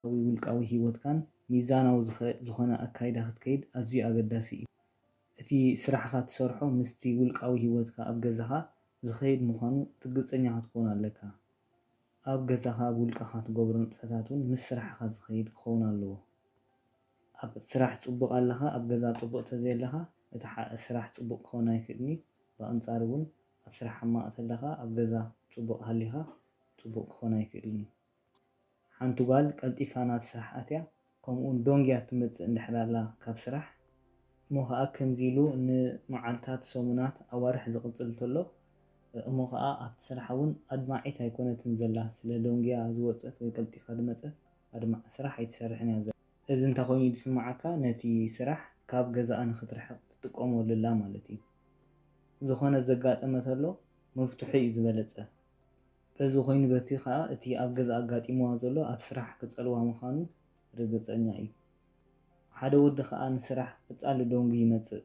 ኣብ ውልቃዊ ህይወትካን ሚዛናዊ ዝዀነ ኣካይዳ ክትከይድ ኣዝዩ ኣገዳሲ እዩ። እቲ ስራሕኻ እትሰርሖ ምስቲ ውልቃዊ ህይወትካ ኣብ ገዛኻ ዝኸይድ ምዃኑ ርግጸኛ ክትከውን ኣለካ። ኣብ ገዛኻ ኣብ ውልቅኻ ትገብሮ ንጥፈታት እውን ምስ ስራሕኻ ዝኸይድ ክኸውን ኣለዎ። ኣብ ስራሕ ጽቡቅ ኣለኻ ኣብ ገዛ ጽቡቅ ተዘየለኻ እቲ ስራሕ ጽቡቅ ክኸውን ኣይክእልን እዩ ብኣንጻሩ ውን ኣብ ስራሕ ሕማቅ ተለኻ ኣብ ገዛ ጽቡቅ ሃሊኻ ጽቡቅ ክኾን ኣይክእልን እዩ ሓንቲ ጓል ቀልጢፋ ናብ ስራሕ ኣትያ ከምኡ ውን ዶንግያ ትመጽእ እንድሕር ኣላ ካብ ስራሕ እሞ ኸኣ ከምዚ ኢሉ ን መዓልታት ሰሙናት ኣዋርሕ ዝቅጽል ተሎ እሞ ኸኣ ኣብቲ ስራሓ ውን ኣድማዒት ኣይኮነትን ዘላ ስለ ዶንግያ ዝወጸት ወይ ቀልጢፋ ድመጸት ኣድማዕ ስራሕ ኣይትሰርሕን እያ ዘላ። እዚ እንተኾይኑ እዩ ዝስምዓካ ነቲ ስራሕ ካብ ገዛኣ ንኽትርሕቕ ትጥቀመሉ ኣላ ማለት እዩ። ዝኾነ ዘጋጠመ ተሎ ምፍትሑ እዩ ዝበለጸ። በዚ ኮይኑ በቲ ከኣ እቲ ኣብ ገዛ ኣጋጢምዋ ዘሎ ኣብ ስራሕ ክጸልዋ ምዃኑ ርግጸኛ እዩ። ሓደ ወዲ ከኣ ንስራሕ ቀጻሊ ደንጉ ይመጽእ።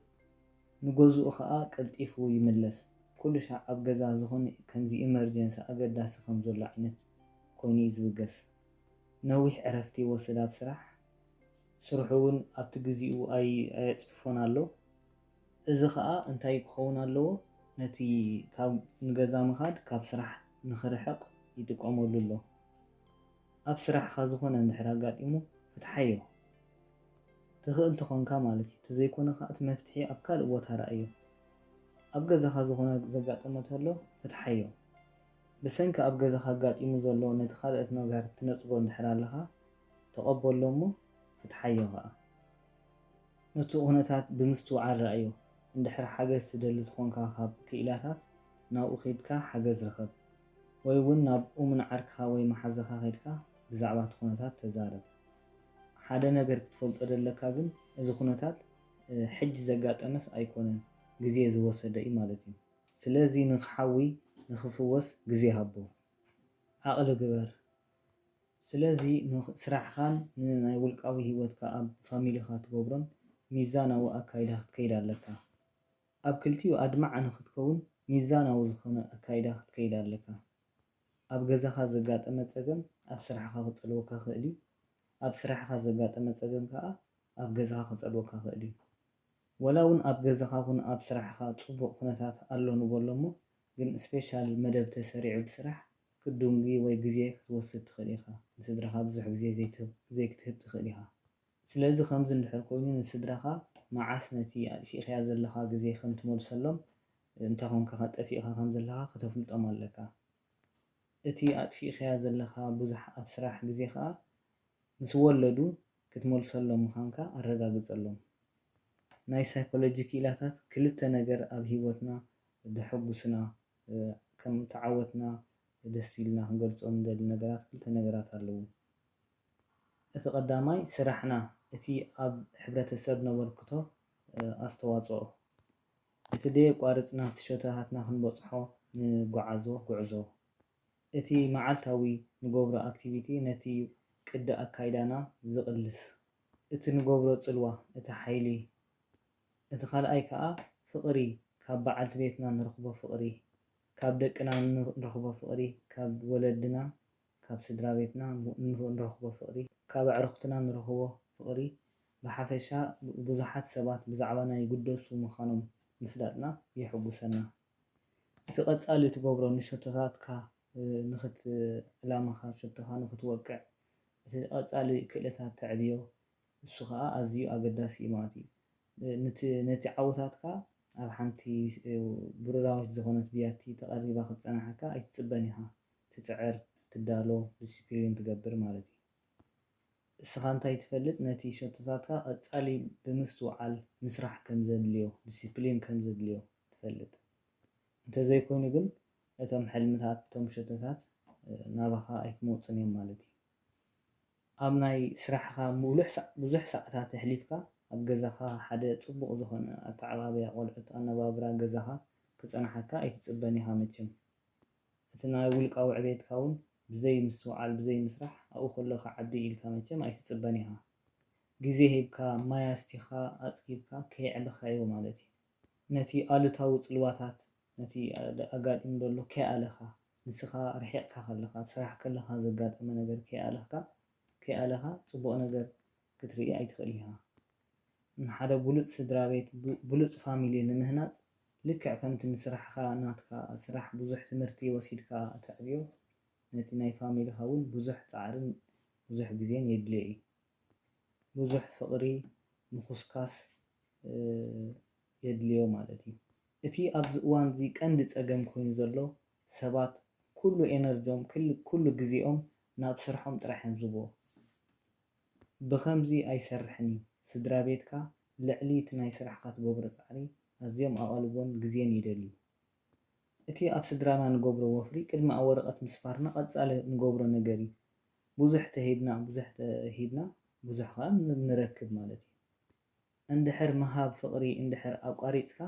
ንገዝኡ ከኣ ቀልጢፉ ይምለስ። ኩሉ ሻዕ ኣብ ገዛ ዝኾነ ከምዚ ኢመርጀንሲ ኣገዳሲ ከም ዘሎ ዓይነት ኮይኑ እዩ ዝብገስ። ነዊሕ ዕረፍቲ ይወስድ ኣብ ስራሕ፣ ስርሑ እውን ኣብቲ ግዚኡ ኣየጽፍፎን ኣሎ። እዚ ከኣ እንታይ ክኸውን ኣለዎ ነቲ ካብ ንገዛ ምኻድ ካብ ስራሕ ንኽርሕቕ ይጥቀመሉ ኣሎ። ኣብ ስራሕኻ ዝኾነ እንድሕር ኣጋጢሙ ፍትሓዮ። ትኽእል ተኾንካ ማለት እዩ ተዘይኮነ ከኣ እቲ መፍትሒ ኣብ ካልእ ቦታ ረኣዮ። ኣብ ገዛኻ ዝኾነ ዘጋጠመ ተሎ ፍትሓዮ። ብሰንኪ ኣብ ገዛኻ ኣጋጢሙ ዘሎ ነቲ ካልኦት መግሃር ትነጽጎ እንድሕር ኣለኻ ተቐበሎ እሞ ፍትሓዮ ከኣ። ነቱ ኩነታት ብምስትውዓል ርኣዮ። እንድሕር ሓገዝ ትደሊ ትኾንካ ካብ ክኢላታት ናብኡ ከይድካ ሓገዝ ርኸብ። ወይ ውን ናብ እሙን ዓርክኻ ወይ መሓዛኻ ከይድካ ብዛዕባ እቲ ኩነታት ተዛረብ። ሓደ ነገር ክትፈልጦ ደለካ ግን እዚ ኩነታት ሕጂ ዘጋጠመስ ኣይኮነን ግዜ ዝወሰደ እዩ ማለት እዩ። ስለዚ ንክሓዊ ንክፍወስ ግዜ ሃቦ ዓቅሊ ግበር ስለዚ ን ስራሕካን ን ናይ ውልቃዊ ሂወትካ ኣብ ፋሚሊካ ትገብሮን ሚዛናዊ ኣካይዳ ክትከይድ ኣለካ ኣብ ክልቲኡ ኣድማዒ ንክትከውን ሚዛናዊ ዝኮነ ኣካይዳ ክትከይድ ኣለካ ኣብ ገዛካ ዘጋጠመ ጸገም ኣብ ስራሕካ ክጸልወካ ይክእል እዩ ኣብ ስራሕካ ዘጋጠመ ጸገም ከኣ ኣብ ገዛካ ክጸልወካ ይክእል እዩ ወላ ውን ኣብ ገዛኻ ኩን ኣብ ስራሕኻ ጽቡቅ ኩነታት ኣሎ ንበሎ እሞ ግን ስፔሻል መደብ ተሰሪዑ ብስራሕ ክትዱንጊ ወይ ግዜ ክትወስድ ትኽእል ኢኻ ንስድራኻ ብዙሕ ግዜ ዘይትህብ ግዜ ክትህብ ትኽእል ኢኻ ስለዚ ከምዚ እንድሕር ኮይኑ ንስድራኻ መዓስ ነቲ ኣጥፊእካዮ ዘለኻ ግዜ ከም ትመልሰሎም እንታይ ኮንካ ከጠፊእካ ከም ዘለኻ ክተፍልጦም ኣለካ እቲ ኣጥፊእካዮ ዘለኻ ብዙሕ ኣብ ስራሕ ግዜ ከኣ ምስ ወለዱ ክትመልሰሎም ምዃንካ ኣረጋግጸሎም። ናይ ሳይኮሎጂ ክኢላታት ክልተ ነገር ኣብ ህይወትና ደሐጉስና ከም ተዓወትና ደስ ኢልና ክንገልጾም ንደሊ ነገራት ክልተ ነገራት ኣለዉ። እቲ ቀዳማይ ስራሕና እቲ ኣብ ሕብረተሰብ ነበርክቶ ኣስተዋጽኦ እቲ ደየቋርጽና ትሸቶታትና ክንበጽሖ ንጎዓዞ ጉዕዞ። እቲ መዓልታዊ ንገብሮ ኣክቲቪቲ ነቲ ቅዲ ኣካይዳና ዝቅልስ። እቲ ንገብሮ ጽልዋ እቲ ሓይሊ። እቲ ካልኣይ ከኣ ፍቅሪ ካብ በዓልቲ ቤትና ንረኽቦ ፍቅሪ ካብ ደቅና ንረኽቦ ፍቅሪ ካብ ወለድና ካብ ስድራቤትና ንረኽቦ ፍቅሪ ካብ ኣዕሩኽትና ንረኽቦ ፍቅሪ ብሓፈሻ ብዙሓት ሰባት ብዛዕባና ይግደሱ ምኻኖም ምፍላጥና የሕጉሰና። እቲ ቀጻሊ ትገብሮ ንሸቶታትካ ንክት ዕላማኻ ሸቶኻ ንክትወቅዕ እቲ ቀጻሊ ክእለታት ተዕብዮ እሱ ከኣ ኣዝዩ ኣገዳሲ እዩ ማለት እዩ። ንቲ ነቲ ዓወታትካ ኣብ ሓንቲ ብሩራዊት ዝኾነት ብያቲ ተቀሪባ ክትጸናሓካ ኣይትጽበን ኢኻ ትጽዕር ትዳሎ ድስፕሊን ትገብር ማለት እዩ። እስኻ እንታይ ትፈልጥ ነቲ ሸቶታትካ ቀጻሊ ብምስትውዓል ምስራሕ ከምዘድልዮ ድስፕሊን ከምዘድልዮ ትፈልጥ እንተዘይኮይኑ ግን እቶም ሕልምታት እቶም ሸቶታት ናባኻ ኣይክመጹን እዮም ማለት እዩ። ኣብ ናይ ስራሕኻ ምሉሕ ሳዕ ብዙሕ ሳዓታት ኣሕሊፍካ ኣብ ገዛኻ ሓደ ጽቡቕ ዝኾነ ኣተዓባብያ ቆልዑት ኣነባብራ ገዛኻ ክጸናሓካ ኣይትጽበን ኢኻ መቸም እቲ ናይ ውልቃዊ ዕቤትካ ውን ብዘይ ምስትውዓል ብዘይ ምስራሕ ኣብኡ ከሎ ክዓቢ ኢልካ መቸም ኣይትጽበን ኢኻ ግዜ ሂብካ ማይ ኣስቲኻ ኣጽጊብካ ከየዕበኻዮ ማለት እዩ። ነቲ ኣሉታዊ ጽልዋታት ነቲ ኣጋጢሙ ዘሎ ከይኣለኻ ንስኻ ርሒቕካ ከለኻ ኣብ ስራሕ ከለኻ ዘጋጠመ ነገር ከይኣለኽካ ከይኣለኻ ጽቡቕ ነገር ክትርኢ ኣይትኽእል ኢኻ። ንሓደ ብሉጽ ስድራቤት ብሉጽ ፋሚሊ ንምህናጽ ልክዕ ከምቲ ንስራሕኻ ናትካ ስራሕ ብዙሕ ትምህርቲ ወሲድካ ተዕብዮ ነቲ ናይ ፋሚልኻ እውን ብዙሕ ጻዕርን ብዙሕ ግዜን የድልዮ እዩ። ብዙሕ ፍቕሪ ምዅስኳስ የድልዮ ማለት እዩ። እቲ ኣብዚ እዋን እዚ ቀንዲ ጸገም ኮይኑ ዘሎ ሰባት ኩሉ ኤነርጆም ኩሉ ግዜኦም ናብ ስርሖም ጥራሕ እዮም ዝህብዎ። ብኸምዚ ኣይሰርሕን እዩ። ስድራቤትካ ልዕሊ እቲ ናይ ስራሕኻ ትገብሮ ጻዕሪ ኣዝዮም ኣቓልቦን ግዜን ይደልዩ። እቲ ኣብ ስድራና ንገብሮ ወፍሪ ቅድሚ ኣብ ወረቀት ምስፋርና ቀጻሊ ንገብሮ ነገር እዩ። ብዙሕ ተሂብና ብዙሕ ተሂብና ብዙሕ ከኣ ንረክብ ማለት እዩ። እንድሕር ምሃብ ፍቅሪ እንድሕር ኣቋሪጽካ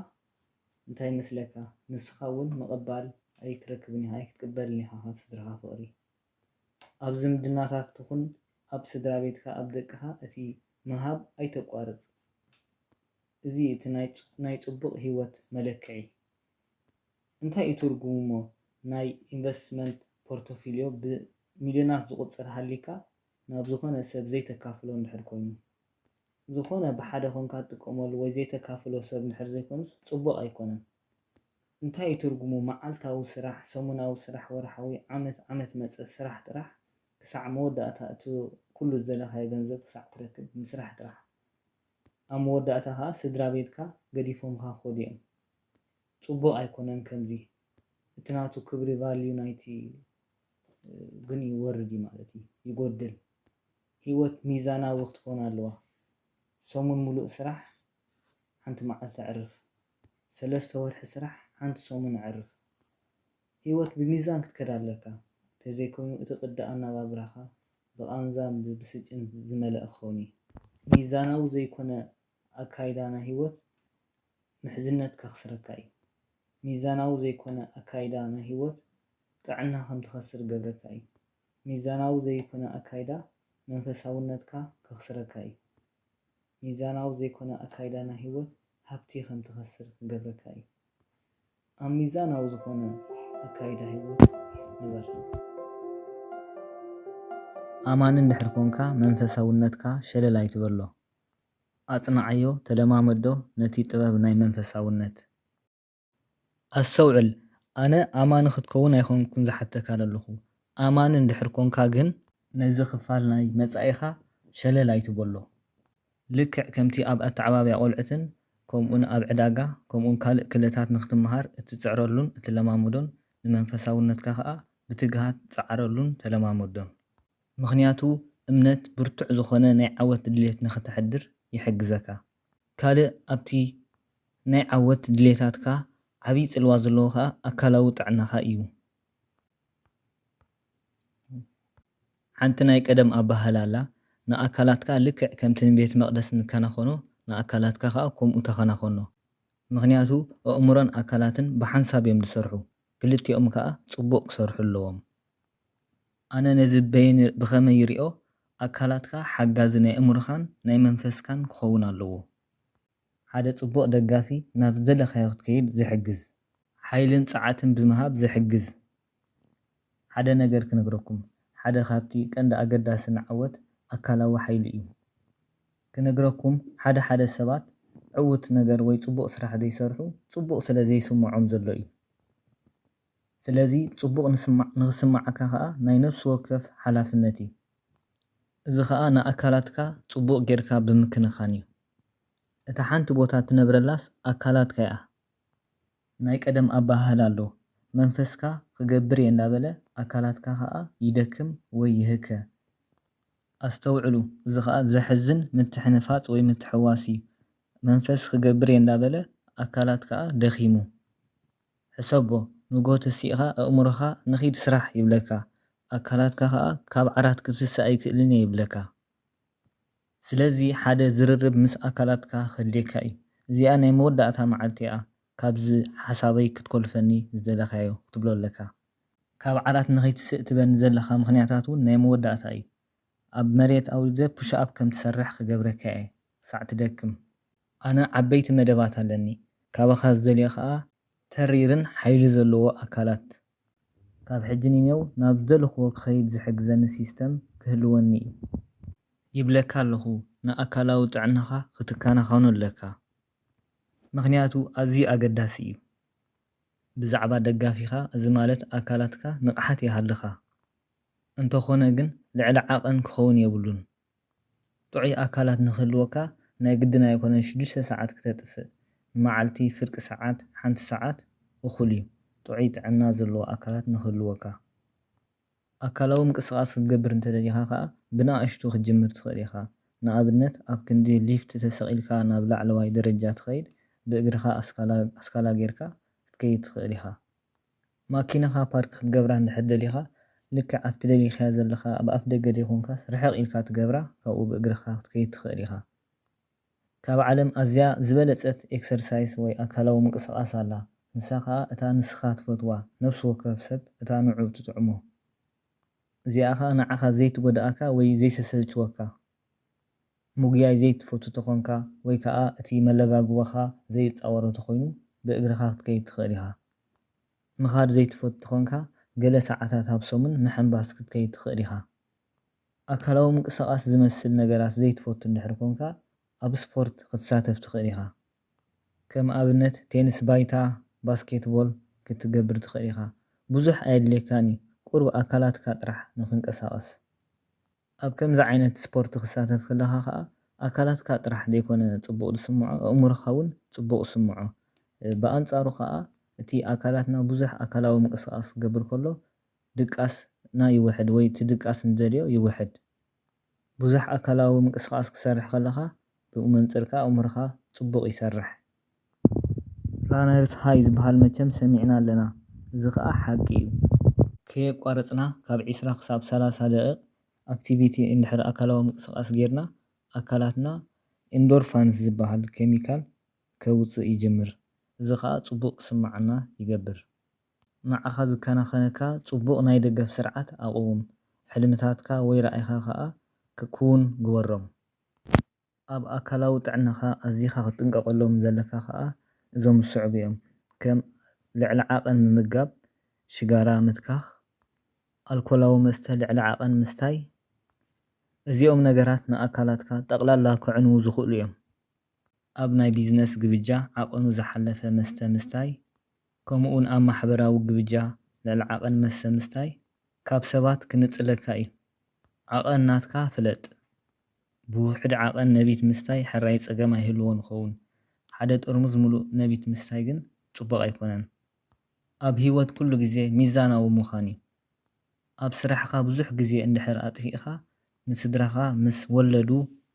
እንታይ ይመስለካ ንስካ ውን ምቅባል ኣይትረክብን ኢካ ኣይክትቅበልን ኢካ ካብ ስድራካ ፍቅሪ። ኣብ ዝምድናታት ትኹን ኣብ ስድራቤትካ ኣብ ደቅኻ እቲ ምሃብ ኣይተቋርጽ እዚ እዩ እቲ ናይ ጽቡቕ ሂወት መለክዒ። እንታይ እዩ ትርጉሙሞ ናይ ኢንቨስትመንት ፖርቶፊልዮ ብ ሚልዮናት ዝቑጸር ሃሊካ ናብ ዝኾነ ሰብ ዘይተካፍሎ እንድሕር ኮይኑ። ዝኾነ ብሓደ ኮንካ ትጥቀመሉ ወይ ዘይተካፍሎ ሰብ እንድሕር ዘይኮይኑስ ጽቡቕ ኣይኮነን። እንታይ እዩ ትርጉሙ መዓልታዊ ስራሕ ሰሙናዊ ስራሕ ወርሓዊ ዓመት ዓመት መጸ ስራሕ ጥራሕ ክሳዕ መወዳእታ እቲ ኩሉ ዝደለኻዮ ገንዘብ ክሳዕ ትረክብ ምስራሕ ጥራሕ ኣብ መወዳእታ ከኣ ስድራቤትካ ገዲፎምኻ ክኸዱ እዮም ጽቡቕ ኣይኮነን ከምዚ እቲ ናቱ ክብሪ ቫልዩ ናይቲ ግን ይወርድ እዩ ማለት እዩ ይጎድል ህይወት ሚዛናዊ ክትኮን ኣለዋ ሰሙን ሙሉእ ስራሕ ሓንቲ መዓልቲ ዕርፍ ሰለስተ ወርሒ ስራሕ ሓንቲ ሰሙን ዕርፍ። ሂወት ብሚዛን ክትከድ ኣለካ ተዘይኮይኑ እቲ ቅዲ ኣናባብራካ ብቃንዛን ብብስጭን ዝመለኣ ክከውን እዩ። ሚዛናዊ ዘይኮነ ኣካይዳ ናይ ሂወት ምሕዝነት ከክስረካ እዩ። ሚዛናዊ ዘይኮነ ኣካይዳ ናይ ሂወት ጥዕና ከም ትከስር ገብረካ እዩ። ሚዛናዊ ዘይኮነ ኣካይዳ መንፈሳውነትካ ከክስረካ እዩ። ሚዛናዊ ዘይኮነ ኣካይዳ ናይ ህይወት ሃብቲ ከም ትኸስር ክገብረካ እዩ። ኣብ ሚዛናዊ ዝኾነ ኣካይዳ ህይወት ንበር። ኣማኒ እንድሕር ኮንካ መንፈሳውነትካ ሸለል ኣይትበሎ። ኣጽንዓዮ ተለማመዶ ነቲ ጥበብ ናይ መንፈሳውነት። ኣስተውዕል ኣነ ኣማኒ ክትከውን ኣይኮንኩን ዝሓተካ ዘለኹ ኣማኒ እንድሕር ኮንካ ግን ነዚ ክፋል ናይ መጻኢኻ ሸለል ኣይትበሎ ልክዕ ከምቲ ኣብ ኣተዓባብያ ቆልዑትን ከምኡን ኣብ ዕዳጋ ከምኡን ካልእ ክለታት ንክትመሃር እትጽዕረሉን እትለማመዶን ንመንፈሳውነትካ ከኣ ብትግሃት ጸዓረሉን ተለማመዶን ምኽንያቱ እምነት ብርቱዕ ዝኾነ ናይ ዓወት ድሌት ንክተሕድር ይሕግዘካ ካልእ ኣብቲ ናይ ዓወት ድሌታትካ ዓቢ ጽልዋ ዘለዎ ከኣ ኣካላዊ ጥዕናኻ እዩ። ሓንቲ ናይ ቀደም ኣበሃህላ ኣላ፣ ንኣካላትካ ልክዕ ከምቲ ንቤት መቕደስ ንከናኸኖ ንኣካላትካ ከኣ ከምኡ ተኸናኸኖ። ምኽንያቱ ኣእምሮን ኣካላትን ብሓንሳብ እዮም ዝሰርሑ፣ ክልቲኦም ከኣ ጽቡቕ ክሰርሑ ኣለዎም። ኣነ ነዚ በየን ብኸመይ ይሪኦ ኣካላትካ ሓጋዚ ናይ እእምሮኻን ናይ መንፈስካን ክኸውን ኣለዎ ሓደ ጽቡቕ ደጋፊ ናብ ዝደለኻዮ ክትከይድ ዝሕግዝ ሓይልን ጸዓትን ብምሃብ ዝሕግዝ ሓደ ነገር ክነግረኩም ሓደ ካብቲ ቀንዲ ኣገዳሲ ንዓወት ኣካላዊ ሓይሊ እዩ ክነግረኩም ሓደ ሓደ ሰባት ዕውት ነገር ወይ ጽቡቕ ስራሕ ዘይሰርሑ ጽቡቕ ስለ ዘይስምዖም ዘሎ እዩ ስለዚ ጽቡቕ ንስማዕ ንኽስምዓካ ከኣ ናይ ነፍሲ ወከፍ ሓላፍነት እዩ። እዚ ከኣ ንኣካላትካ ጽቡቕ ጌርካ ብምክንኻን እዩ። እታ ሓንቲ ቦታ ትነብረላስ ኣካላትካ'ያ። ናይ ቀደም ኣበሃህላ ኣሎ፣ መንፈስካ ክገብር'የ እንዳበለ ኣካላትካ ከኣ ይደክም ወይ ይህከ። ኣስተውዕሉ እዚ ከኣ ዘሕዝን ምትሕንፋጽ ወይ ምትሕውዋስ እዩ። መንፈስ ክገብር'የ እንዳበለ ኣካላት ከኣ ደኺሙ። ሕሰቦ ንግሆ ተሲእኻ ኣእምሮኻ ንኺድ ስራሕ ይብለካ ኣካላትካ ከኣ ካብ ዓራት ክትስስእ ኣይክእልን እየ ይብለካ ስለዚ ሓደ ዝርርብ ምስ ኣካላትካ ከድልየካ እዩ እዚኣ ናይ መወዳእታ መዓልቲ እያ ካብዚ ሓሳበይ ክትኮልፈኒ ዝደለካዮ ክትብሎ ኣለካ ካብ ዓራት ንኸይትስእ ትበኒ ዘለኻ ምኽንያታት ውን ናይ መወዳእታ እዩ ኣብ መሬት ኣውሪደ ፑሽኣፕ ከም ትሰርሕ ክገብረካ እየ ክሳዕ ትደክም። ኣነ ዓበይቲ መደባት ኣለኒ ካባኻ ዝደልዮ ከኣ ተሪርን ሓይሊ ዘለዎ ኣካላት ካብ ሕጂ ንኔው ናብ ዝደለኽዎ ክኸይድ ዝሕግዘኒ ሲስተም ክህልወኒ እዩ ይብለካ ኣለኹ ንኣካላዊ ጥዕናኻ ክትከናኸኖ ኣለካ ምኽንያቱ ኣዝዩ ኣገዳሲ እዩ ብዛዕባ ደጋፊኻ እዚ ማለት ኣካላትካ ንቕሓት ይሃልኻ እንተኾነ ግን ልዕሊ ዓቐን ክኸውን የብሉን ጥዑይ ኣካላት ንኽህልወካ ናይ ግድን ኣይኮነን ሽዱሽተ ሰዓት ክተጥፍእ፣ ንመዓልቲ ፍርቂ ሰዓት፣ ሓንቲ ሰዓት፣ እኹል እዩ። ጥዑይ ጥዕና ዘለዎ ኣካላት ንኽህልወካ። ኣካላዊ ምንቅስቓስ ክትገብር እንተደሊኻ ከኣ ብንኣሽቱ ክትጅምር ትኽእል ኢኻ። ንኣብነት ኣብ ክንዲ ሊፍት ተሰቒልካ ናብ ላዕለዋይ ደረጃ ትኸይድ ብእግርኻ ኣስካላ ኣስካላ ጌርካ ክትከይድ ትኽእል ኢኻ። ማኪናኻ ፓርክ ክትገብራ እንድሕር ደሊኻ ልክዕ ኣብቲ ደሊኻያ ዘለኻ ኣብ ኣፍ ደገ ደይኮንካስ ርሕቕ ኢልካ ትገብራ ካብኡ ብእግርኻ ክትከይድ ትኽእል ኢኻ ካብ ዓለም ኣዝያ ዝበለጸት ኤክሰርሳይስ ወይ ኣካላዊ ምንቅስቓስ ኣላ ንሳ ከኣ እታ ንስኻ ትፈትዋ ነብሲ ወከፍ ሰብ እታ ንዑ ትጥዕሞ እዚኣ ከኣ ንዓኻ ዘይትጎድኣካ ወይ ዘይሰሰልችወካ ምጉያይ ዘይትፈቱ ተኾንካ ወይ ከኣ እቲ መለጋጉባኻ ዘይጻወሮ ተኾይኑ ብእግርኻ ክትከይድ ትኽእል ኢኻ። ምኻድ ዘይትፈቱ ተኾንካ ገለ ሰዓታት ኣብ ሰሙን ምሕንባስ ክትከይድ ትኽእል ኢኻ። ኣካላዊ ምንቅስቓስ ዝመስል ነገራት ዘይትፈቱ እንድሕር ኮንካ ኣብ ስፖርት ክትሳተፍ ትኽእል ኢኻ። ከም ኣብነት ቴንስ ባይታ፣ ባስኬትቦል ክትገብር ትኽእል ኢኻ። ብዙሕ ኣየድልየካን እዩ ቁሩብ ኣካላትካ ጥራሕ ንኽንቀሳቐስ። ኣብ ከምዚ ዓይነት ስፖርት ክሳተፍ ከለኻ ከኣ ኣካላትካ ጥራሕ ዘይኮነ ጽቡቕ ዝስምዖ ኣእምሮኻ ውን ጽቡቕ ይስምዖ። ብኣንጻሩ ከኣ እቲ ኣካላትና ብዙሕ ኣካላዊ ምንቅስቓስ ክገብር ከሎ ድቃስና ይውሕድ ወይ እቲ ድቃስ ንደልዮ ይውሕድ። ብዙሕ ኣካላዊ ምንቅስቓስ ክትሰርሕ ከለኻ ብኡ መንጽር ከኣ ኣእምሮኻ ጽቡቕ ይሰርሕ። ራነርስ ሃይ ዝብሃል መቸም ሰሚዕና ኣለና እዚ ከኣ ሓቂ ዩ። ከየቋረጽና ካብ ዕስራ ክሳብ ሰላሳ ደቒቕ ኣክቲቪቲ እንድሕር ኣካላዊ ምንቅስቓስ ጌርና ኣካላትና ኢንዶርፋንስ ዝብሃል ኬሚካል ከውጽእ ይጅምር እዚ ከኣ ጽቡቕ ክስምዓና ይገብር። ንዓኻ ዝከናኸነካ ጽቡቕ ናይ ደገፍ ስርዓት ኣቕውም። ሕልምታትካ ወይ ራኢኻ ከኣ ክክውን ግበሮም። ኣብ ኣካላዊ ጥዕናኻ ኣዚኻ ክትጥንቀቐሎም ዘለካ ከኣ እዞም ዝስዕቡ እዮም፣ ከም ልዕሊ ዓቐን ምምጋብ፣ ሽጋራ ምትካኽ፣ ኣልኮላዊ መስተ ልዕሊ ዓቐን ምስታይ፣ እዚኦም ነገራት ንኣካላትካ ጠቕላላ ከዕንዉ ዝኽእሉ እዮም። ኣብ ናይ ቢዝነስ ግብጃ ዓቐኑ ዝሓለፈ መስተ ምስታይ፣ ከምኡ'ውን ኣብ ማሕበራዊ ግብጃ ልዕሊ ዓቐን መስተ ምስታይ ካብ ሰባት ክንጽለካ እዩ። ዓቐን ናትካ ፍለጥ። ብውሑድ ዓቐን ነቢት ምስታይ ሕራይ ጸገም ኣይህልዎን ይኸውን። ሓደ ጥርሙዝ ምሉእ ነቢት ምስታይ ግን ጽቡቕ ኣይኮነን። ኣብ ህይወት ኩሉ ግዜ ሚዛናዊ ምዃን እዩ። ኣብ ስራሕኻ ብዙሕ ግዜ እንድሕር ኣጥፊእኻ ንስድራኻ ምስ ወለዱ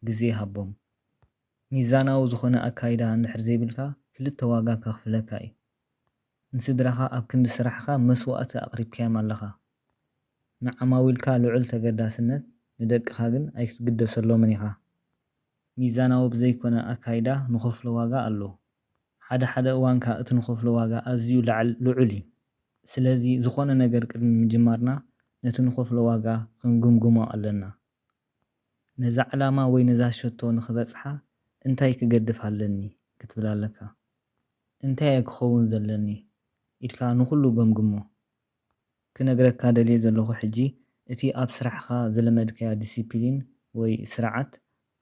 ግዜ ሃቦም። ሚዛናዊ ዝኾነ ኣካይዳ እንድሕር ዘይብልካ ክልተ ዋጋ ከኽፍለካ እዩ። ንስድራኻ ኣብ ክንዲ ስራሕኻ መስዋእቲ ኣቕሪብካዮም ኣለኻ። ንዓማዊልካ ልዑል ተገዳስነት፣ ንደቅኻ ግን ኣይክትግደሰሎምን ኢኻ። ሚዛናዊ ብዘይኮነ ኣካይዳ ንኸፍሎ ዋጋ ኣሎ። ሓደ ሓደ እዋን ከኣ እቲ ንኸፍሎ ዋጋ ኣዝዩ ልዑል እዩ። ስለዚ ዝኾነ ነገር ቅድሚ ምጅማርና ነቲ ንኸፍሎ ዋጋ ክንግምግሞ ኣለና። ነዛ ዕላማ ወይ ነዛ ሸቶ ንኽበጽሓ እንታይ ክገድፍ ኣለኒ ክትብል ኣለካ። እንታይ'የ ክኸውን ዘለኒ ኢልካ ንኹሉ ገምግሞ። ክነግረካ ደልየ ዘለኹ ሕጂ እቲ ኣብ ስራሕኻ ዝለመድካዮ ዲሲፕሊን ወይ ስርዓት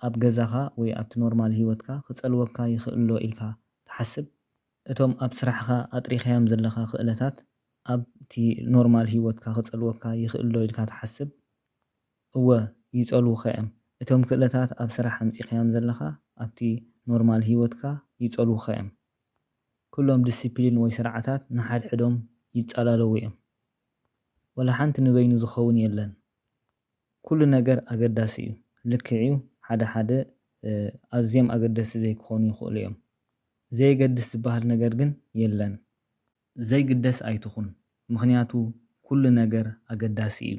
ኣብ ገዛኻ ወይ ኣብቲ ኖርማል ሂወትካ ክጸልወካ ይኽእል'ዶ ኢልካ ትሓስብ? እቶም ኣብ ስራሕኻ ኣጥሪኻዮም ዘለኻ ክእለታት ኣብቲ ኖርማል ሂወትካ ክጸልወካ ይኽእል'ዶ ኢልካ ትሓስብ? እወ ይጸልዉኻ'ዮም። እቶም ክእለታት ኣብ ስራሕ ኣምጺኻዮም ዘለኻ ኣብቲ ኖርማል ሂወትካ ይጸልዉኻ'ዮም። ኩሎም ድስፕሊን ወይ ስርዓታት ንሓድሕዶም ይጻላለዉ'ዮም። ወላ ሓንቲ ንበይኑ ዝኸውን የለን። ኩሉ ነገር ኣገዳሲ'ዩ። ልክዕ'ዩ ሓደ ሓደ ኣዝዮም ኣገደስቲ ዘይክኾኑ ይኽእሉ'ዮም። ዘየገድስ ዝበሃል ነገር ግን የለን። ዘይግደስ ኣይትኹን ምኽንያቱ ኩሉ ነገር ኣገዳሲ እዩ።